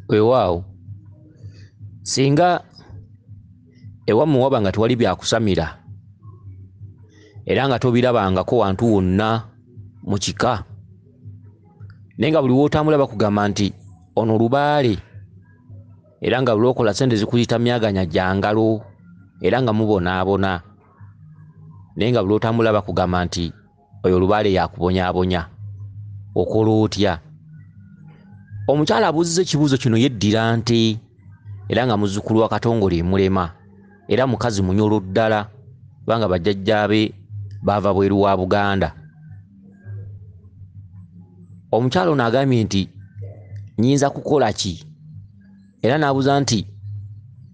wewaawo singa ewammwe waba nga tewali byakusamira era nga tobirabangako wantu wonna mu kika naye nga buli wootambula bakugamba nti ono lubaale era nga lwokola sente zikuyita myaganya gya ngalo era nga mubonaabona naye nga buli otambula bakugamba nti oyo lubaale yakubonyabonya okola otya omukyala abuuziza ekibuuzo kino yeddira nte era nga muzzukulu wa katongole emulema era mukazi munyolo ddala kubanga bajjajjaabe baava bweru wa buganda omukyala ono agambye nti nyinza kukola ki era n'abuuza nti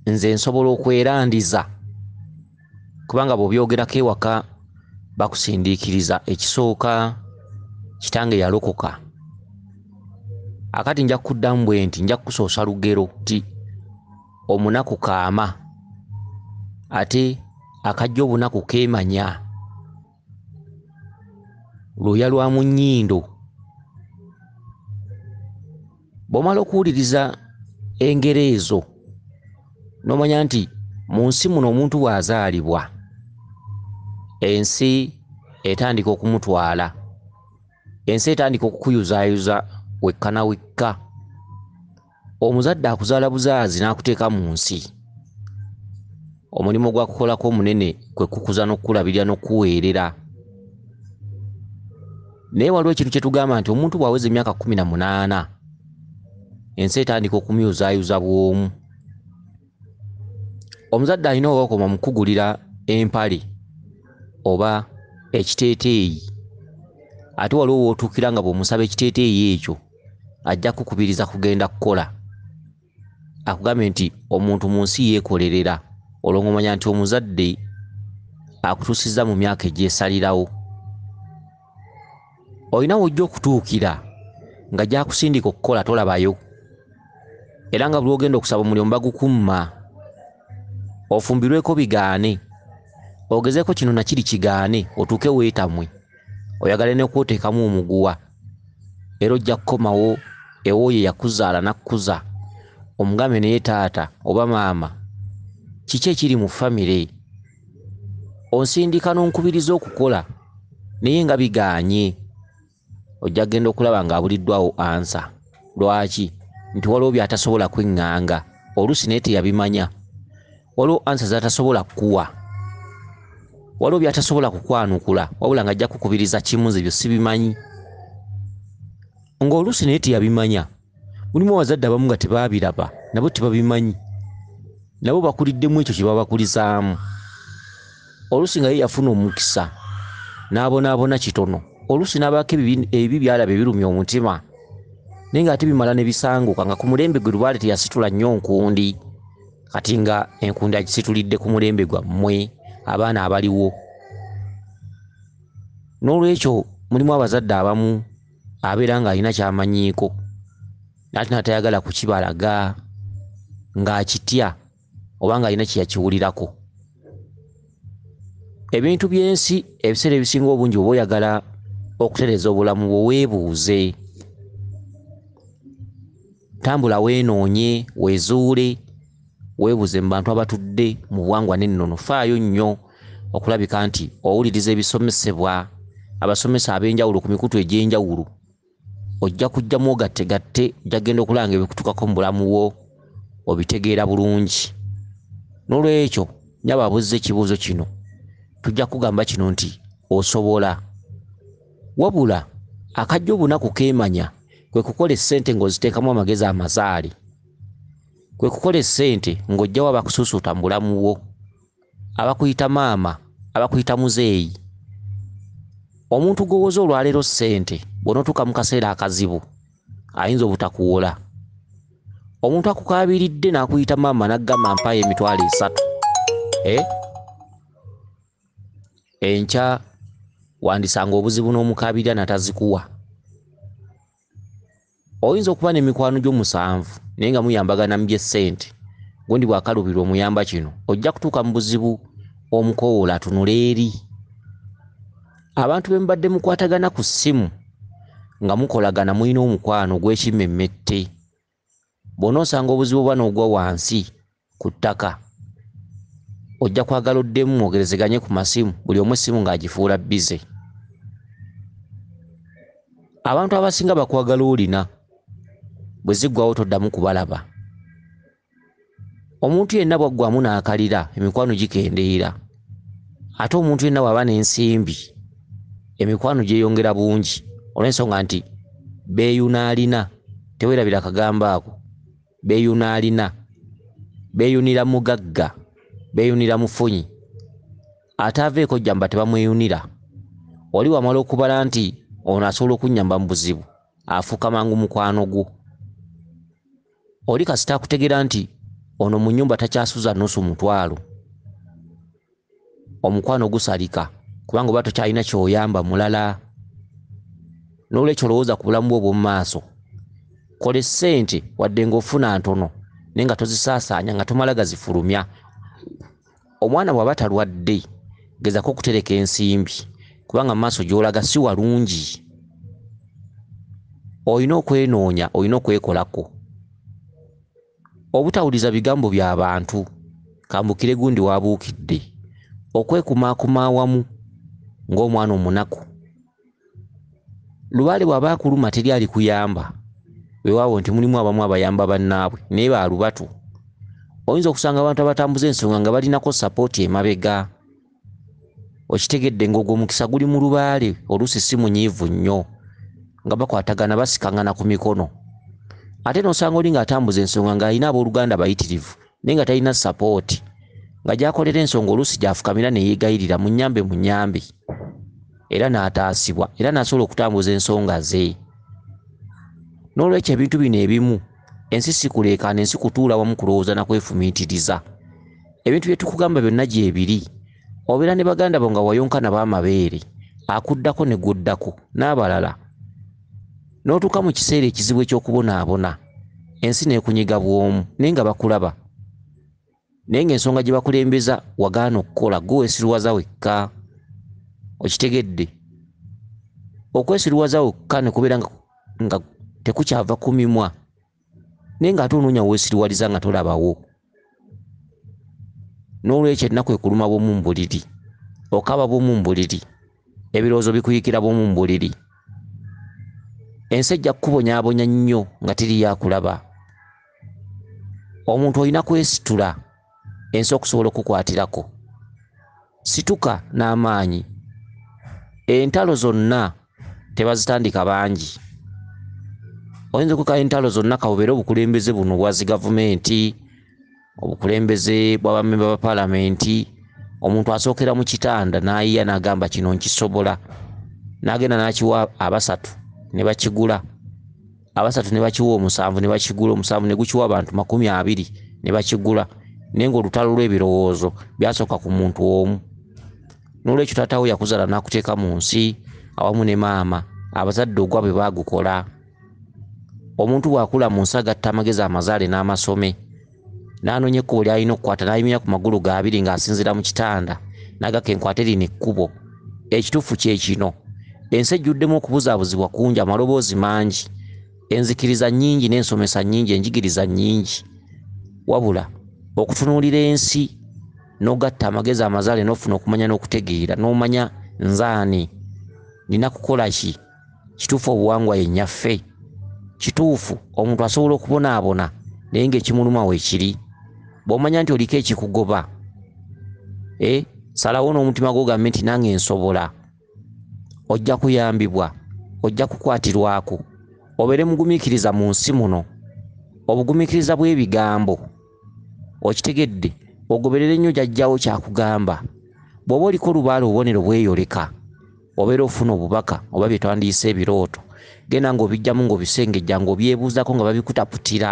nze nsobola okwerandiza kubanga bw'obyogerako ewaka bakusindiikiriza ekisooka kitange yalokoka akati nja kukuddamu bwe nti nja kukusoosa lugero ti omunaku kaama ate akajja obunaku keemanya lwoya lwa mu nnyindo bw'omala okuwuliriza engero ezo n'omanya nti mu nsi muno omuntu bw'azaalibwa ensi etandika okumutwala ensi etandika okukuyuzaayuza wekka na wekka omuzadde akuzaala buzaazi n'akuteeka mu nsi omulimu gwakukolako omunene kwe kukuza n'okukulabirira n'okukuweerera naye waliwo ekintu kye tugamba nti omuntu bw'aweza emyaka kkumi na munaana ensi etandika okumyuzaayuza bw'omu omuzadde alina owokoma mukugulira empale oba ekiteeteeyi ate waliwo wootuukira nga bw'omusaba ekiteeteeyi ekyo ajja kukubiriza kugenda kukola akugambye nti omuntu mu nsi yeekolerera olwongomanya nti omuzadde akutuusizza mu myaka egyesalirawo olina wojja okutuukira nga gyakusindika okukola tolabayo era nga buli ogenda okusaba omulimu bagukumma ofumbirweko bigaane ogezeko kino nakiri kigaane otuuke weetamwe oyagala nekwoteekamu omuguwa era ojja kukomawo ewooyo yakuzaala nakkuza omugambe naye taata oba maama kiki ekiri mu famire onsindika n'onkubiriza okukola naye nga bigaanye ojja kugenda okulaba ng'abuliddwawo ansa lwaki nti waliwo by'atasobola kweŋŋanga oluusi naye teyabimanya waliwo ansa z'atasobola kukuwa waliwo by'atasobola kukwanukula wabula ng'ajja kukubiriza kimu nze byo sibimanyi ng'oluusi naye teyabimanya mulimu abazadde abamu nga tebaabiraba nabo tebabimanyi nabo bakuliddemu ekyo kye babakulizaamu oluusi nga ye yafuna omukisa n'abonaabona kitono oluusi n'abaako ebibi byalaba ebirumya omutima naye ng'ate bimala ne bisanguka nga ku mulembe gwe lubaale teyasitula nnyo nkundi kati nga enkundi agisitulidde ku mulembe gwammwe abaana abaliwo n'olwekyo mulimu abazadde abamu abeera ng'alina kyamanyiiko naate natayagala kukibalaga ng'akitya oba ng'alina kyeyakiwulirako ebintu by'ensi ebiseera ebisinga obungi oba oyagala okutereeza obulamu bwe weebuuze tambula weenoonye wezuule Weebuze mu bantu abatudde mu buwangwa n'ennono, faayo nnyo okulabika nti owuliriza ebisomesebwa abasomesa ab'enjawulo ku mikutu egy'enjawulo. Ojja kujja mwogattegatte, ojja kugenda okulaba ng'ebikutukako mu bulamu bwo obitegeera bulungi. N'olwekyo, nyabo abuzza ekibuuzo kino, tujja kugamba kino nti osobola. Wabula, akajja obunaku keemanya, kwe kukola essente ng'oziteekamu amagezi amazaale. kwe kukola essente ng'ojjawo abakusuusuuta mu bulamu bwo abakuyita maama abakuyita muzeeyi omuntu gwowoza olwaleero ssente bw'onootuuka mu kaseera akazibu ayinza obutakuwola omuntu akukaabiridde n'akuyita maama n'aggamba mpaayo emitwalo esatu eh? enkya wandisanga obuzibu n'omukaabirira natazikuwa oyinza okuba n'emikwano gyo musanvu naye nga muyambagana mu byessente gundi bwakaluubirwa omuyamba kino ojja kutuuka mu buzibu omukowoola atunula eri abantu be mubadde mukwatagana ku ssimu nga mukolagana mulina omukwano gw'ekimmemmette bwona osanga obuzibu bwa nogwa wansi ku ttaka ojja kwagala oddemu mwogerezeganye ku masimu buli omu essimu ng'agifuula bize abantu abasinga bakwagala olina bwe ziggwawo toddamu kubalaba omuntu yenna bwaggwamu n'akalira emikwano gikendeera ate omuntu yenna bw'aba n'ensimbi emikwano gyeyongera bungi olw'ensonga nti beeyuna alina tewerabira akagambo ako beeyuna alina beeyunira mugagga beeyunira mufunyi ataaveeko jjamba tebamweyunira oli wamala okubala nti ono asobola okunnyamba mu buzibu afuuka mangu mukwano gwo Oli kasita akutegera nti ono mu nyumba takyasuza nusu mutwalo omukwano gusalika kubanga oba tokyalina kyoyamba mulala nolwekyo olowooza ku bulamu bwe obwomumaaso kola esente wadde ngaofuna ntono naye nga tozisaasaanya nga tomala gazifulumya omwana bw'aba talwadde gezako okutereka ensimbi kubanga mu maaso gy'olaga si walungi olina okwenoonya olina okwekolako obutawuliza bigambo bya bantu kambukire gundi waabuukidde okwekumaakuma awamu ng'omwana omunaku lubaale bw'aba akuluma teri alikuyamba weewaawo nti mulimu abamu abayamba bannaabwe naye ba lubatu oyinza okusanga abantu abatambuza ensonga nga balinako sapooti emabega okitegedde ng'ogwo omukisa guli mu lubaale oluusi si munyiivu nnyo nga bakwatagana basikangana ku mikono ate n'osanga oli ng'atambuza ensonga ng'alina abooluganda bayitirivu naye nga talina sapooti nga gyakolera ensonga oluusi gyafukamira neyeegayirira munyambe munyambe era n'ataasibwa era n'asobola okutambuza ensonga ze n'olwekyo ebintu bino ebimu ensi sikuleekaana ensi kutuula wamu kulowooza na kwefumiitiriza ebintu bye tukugamba byonna gyebiri obeera ne baganda bo nga wayonka nabo amabeere akuddako ne guddako n'abalala n'otuuka mu kiseera ekizibu eky'okubonaabona ensi n'ekunyiga bw'omu naye nga bakulaba naye ng'ensonga gye bakulembeza wagaana okukola gwe wesiruwaza wekka okitegedde okwesiruwaza wekka ne kubeera nga tekukyava ku mimwa naye ng'ate onoonya weesiriwaliza nga tolabawo n'olwekyo ennaku ekuluma bwomu mu buliri okaba bwomu mu buliri ebirowoozo bikuyikira bwomu mu buliri ensi ejja kukubonyabonya nnyo nga tiriyo akulaba omuntu olina kwesitula ensi okusobola okukwatirako Situka n'amaanyi. Entalo zonna tebazitandika bangi. Oyinza okuka entalo zonna kawubere obukulembeze buno bwazi gavumenti, obukulembeze bw'abamemba ba palamenti, omuntu asookera mu kitanda n'ayiya n'agamba kino nkisobola, n'agenda n'akiwa abasatu ne bakigula. abasatu ne bakiwa omusanvu ne bakigula omusanvu ne gukiwa abantu makumi abiri ne bakigula naye ng'olutalo lw'ebirowoozo byasooka ku muntu omu n'olwekyo taatawo yakuzaala n'akuteeka mu nsi awamu ne maama abazadde ogwa bwe baagukola omuntu bw'akula mu nsi agatta amagezi amazaale n'amasome n'anoonya ekkubo ly'alina okukwata n'ayimira ku magulu ga abiri ng'asinziira mu kitanda n'agaka enkwate lino ekkubo ekituufu kye kino ensi ejjuddemu okubuzaabuzibwa kungi amaloboozi mangi enzikiriza nnyingi n'ensomesa nnyingi enjigiriza nnyingi wabula okutunuulira ensi n'ogatta amagezi amazaale n'ofuna okumanya n'okutegeera n'omanya nzaani nina kukola ki kituufu obuwangwa ye nnyaffe kituufu omuntu asobola okubonaabona naye ngaekimuluma weekiri bwomanya nti oliko ekikugoba e salawo n'omutima gwo gambe nti nange nsobola ojja kuyambibwa ojja kukwatirwako obeere mugumiikiriza mu nsi muno obugumiikiriza bw'ebigambo okitegedde ogoberere nnyo jajjawo kyakugamba bw'oba oliko olubaala obubonero bweyoleka obeera ofuna obubaka oba bye twandiyise ebirooto genda ng'obijjamu ng'obisengejja ng'obyebuuzako nga babikutaputira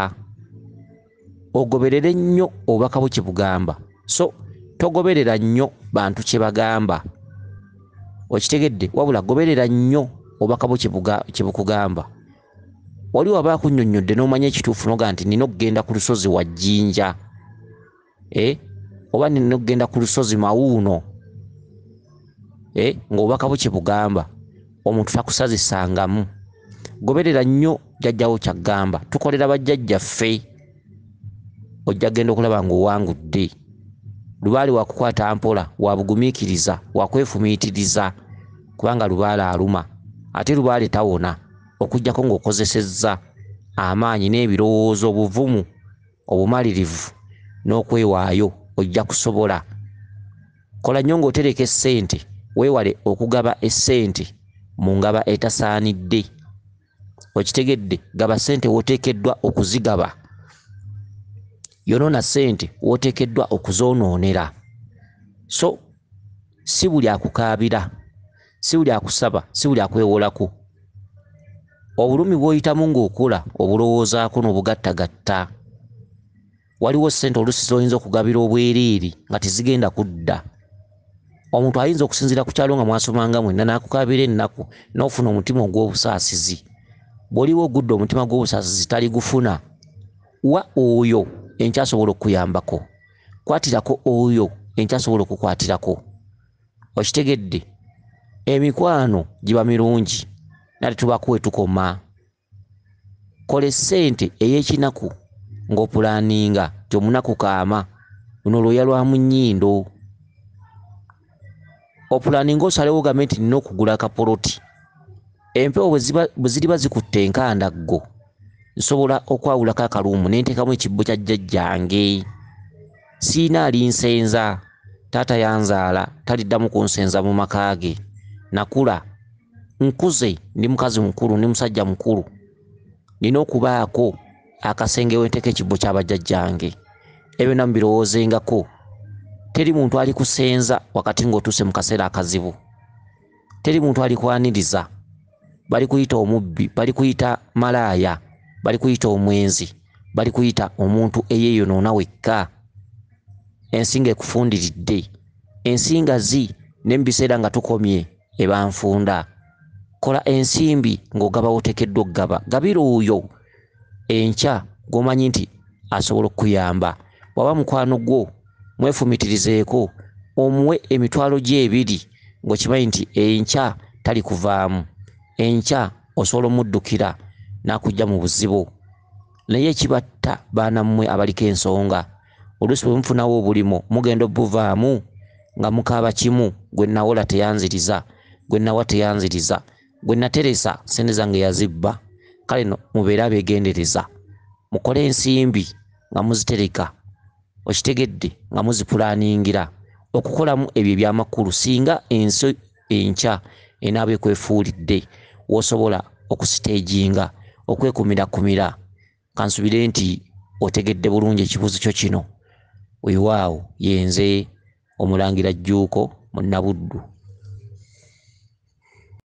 ogoberere nnyo obubaka bwe kyebugamba so togoberera nnyo bantu kye bagamba okitegedde wabula goberera nnyo obubaka bwe kye bukugamba waliwo aba akunnyonnyodde n'omanya ekituufu noga nti nina okugenda ku lusozi wa jjinja eh? oba nina okugenda ku lusozi mawuuno eh? ngaobubaka bwe kyebugamba omuntu takusazisangamu goberera nnyo jajjawo kyaggamba tukolera bajjajjaffe ojja genda okulaba ngaowangudde lubaale wakukwata mpola wabugumiikiriza wakwefumiitiriza kubanga lubaale aluma ate lubaale tawona okujjako ng'okozesezza amaanyi n'ebirowoozo obuvumu obumalirivu n'okwewaayo ojja kusobola. Kola nnyo ng'otereka essente, weewale okugaba essente mu ngaba etasaanidde. Okitegedde? Gaba ssente w'oteekeddwa okuzigaba. Yonoona ssente w'oteekeddwa okuzoonoonera. So si buli akukaabira. Si buli akusaba, si buli akwewolako. Obulumi bw'oyitamu ng'okula obulowoozaako n'obugattagatta. Waliwo ssente oluusi z'oyinza okugabira obwereere nga tezigenda kudda. Omuntu ayinza okusinziira ku kyalo nga mwasomanga mwenna n'akukaabira ennaku n'ofuna omutima ogw'obusaasizi. Bw'oliba ogudde omutima gw'obusaasizi taligufuna. Wa oyo enkya asobola okukuyambako. Kwatirako oyo enkya asobola okukwatirako. okitegedde emikwano giba mirungi nate tubako wetukoma kola esente eyekinaku ngaopulaninga ti omunaku kaama luno lwoya lwa munyindo opulaninga osalewo game nti nina okugula akapoloti empewo bweziriba zikutte enkandaggo nsobola okwawulako akaluumu nentekamu ekibbo kya jjajjange Sirina alinsenza. Taata yanzaala, taliddamu kunsenza mu maka ge. Nakula. Nkuze, ndi mukazi mukulu, ndi musajja mukulu. Nina okubaako akasenge we nteeka ekibbo kya bajjajjange. Ebyo byonna mubirowoozengako. Teri muntu alikusenza wakati ng'otuuse mu kaseera akazibu. teri muntu alikwaniriza bali kuyita omubbi bali kuyita malaaya bali kuyita omwenzi bali kuyita omuntu eyeyonoona wekka ensi nga ekufundiridde ensi nga zi ne mu biseera nga tukomye ebanfunda kola ensimbi ng'ogaba wotekeddwa okugaba gabira oyo enkya gwomanyi nti asobola okukuyamba bwaba mukwano gwo mwefumitirizeeko omuwe emitwalo gye ebiri ng'okimanyi nti enkya tali kuvaamu enkya osobola omuddukira n'akujja mu buzibu naye ekibatta baana mmwe abaliko ensonga oluusi bwe mufunawo obulimo mugenda obuvaamu nga mukaaba kimu gwe nawola teyanziriza gwe nawa teyanziriza gwe nateresa sente zange yazibba kale no mubeere abegendereza mukole ensimbi nga muzitereka okitegedde nga muzipulaningira okukolamu ebyo ebyamakulu singa ensi enkya enaaba ekwefuulidde wosobola okusiteejinga okwekumirakumira kansubire nti otegedde bulungi ekibuuzo kyo kino wewaawo yenze omulangira jjuuko munnabuddu